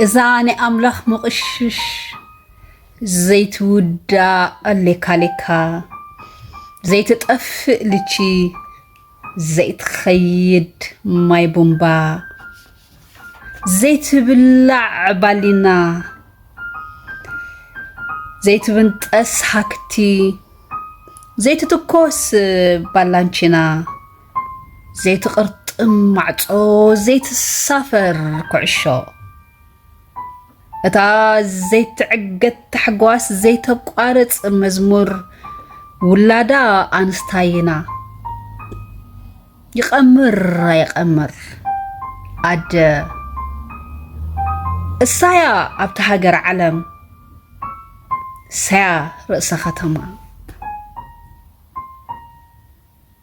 እዛ ናይ ኣምላኽ ምቕሽሽ ዘይትውዳእ ሌካሌካ ዘይትጠፍእ ልቺ ዘይትኸይድ ማይ ቡምባ ዘይትብላዕ ባሊና ዘይትብንጠስ ሃክቲ ዘይትትኮስ ባላንቺና ዘይትቕርጥም ማዕጾ ዘይትሳፈር ኩዕሾ እታ ዘይትዕገት ታሕጓስ ዘይተቋርጽ መዝሙር ውላዳ ኣንስታይና ይቐምር ኣይቐምር ኣደ እሳያ ኣብቲ ሃገር ዓለም ሳያ ርእሰ ከተማ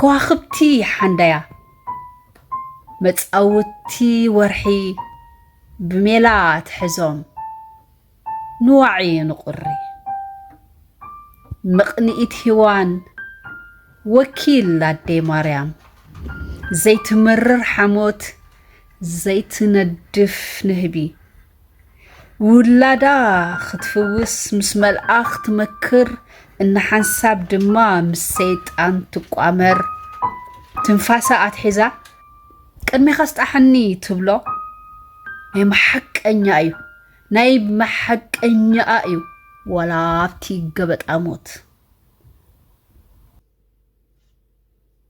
ከዋኽብቲ ሓንዳያ መጻውቲ ወርሒ ብሜላ ትሕዞም ንዋዒ ንቑሪ ምቕንኢት ሂዋን ወኪል ኣደይ ማርያም ዘይትምርር ሓሞት ዘይትነድፍ ንህቢ ውላዳ ክትፍውስ ምስ መልኣኽ ትመክር እንሓንሳብ ድማ ምስ ሰይጣን ትቋመር ትንፋሳ ኣትሒዛ ቅድሜኻ ስጣሕኒ ትብሎ ናይ መሓቀኛ እዩ ናይ መሓቀኛኣ እዩ ወላ ኣብቲ ገበጣ ሞት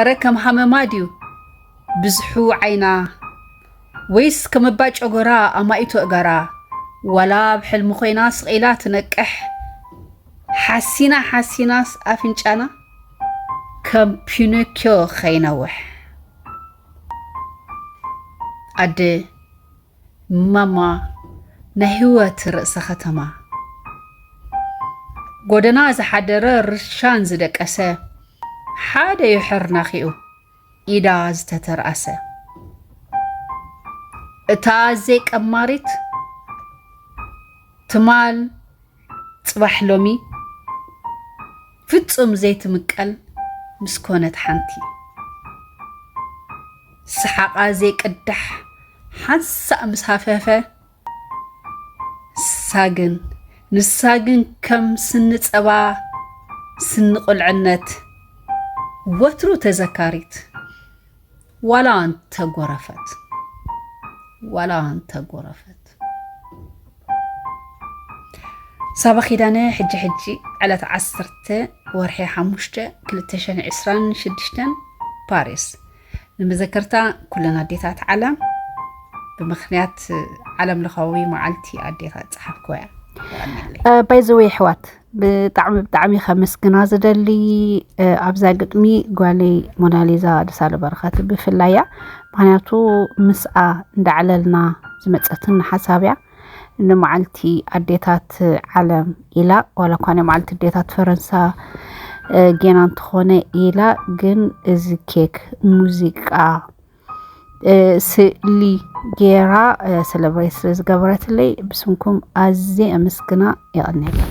እረ ከም ሃመማ ድዩ ብዝሑ ዓይና ወይስ ከም እባ ጨጎራ ኣማኢቱ እገራ ዋላ ኣብ ሕልሚ ኮይና ስቒላ ትነቅሕ ሓሲና ሓሲናስ ኣፍንጫና ከም ፒኖኪዮ ከይነውሕ ኣደ ማማ ናይ ህይወት ርእሰ ከተማ ጎደና ዝሓደረ ርሻን ዝደቀሰ ሓደ ዩ ሕርናኺኡ ኢዳ ዝተተርኣሰ እታ ኣዘይ ቀማሪት ትማል ጽባሕ ሎሚ ፍጹም ዘይትምቀል ምስ ኮነት ሓንቲ ሰሓቓ ዘይቅዳሕ ሓንሳእ ምስ ሃፈፈ ንሳ ግን ንሳ ግን ከም ስኒ ጸባ ስኒ ቁልዕነት ወትሩ ተዘካሪት ዋላ እንተጎረፈት ዋላ እንተጎረፈት ሳባ ኪዳነ ሕጂ ሕጂ ዕለት ዓሰርተ ወርሒ ሓሙሽተ ክልተ ሽሕን ዕስራን ሽዱሽተን ፓሪስ ንመዘከርታ ኩለን ኣዴታት ዓለም ብምክንያት ዓለም ለኻዊ መዓልቲ ኣዴታት ፀሓፍክዋ እያ ባይዘወይ ኣሕዋት ብጣዕሚ ብጣዕሚ ከመስግና ዝደሊ ኣብዛ ግጥሚ ጓለይ ሞናሊዛ ደሳለ በረኸት ብፍላይ እያ ምክንያቱ ምስኣ እንዳዕለልና ዝመፀትን ሓሳብ እያ ንመዓልቲ ኣዴታት ዓለም ኢላ ዋላ እኳ ናይ መዓልቲ ኣዴታት ፈረንሳ ጌና እንተኾነ ኢላ ግን እዚ ኬክ ሙዚቃ ስእሊ ጌራ ሰለብሬት ስለ ዝገበረትለይ ብስምኩም ኣዝየ ኣመስግና የቐንየለይ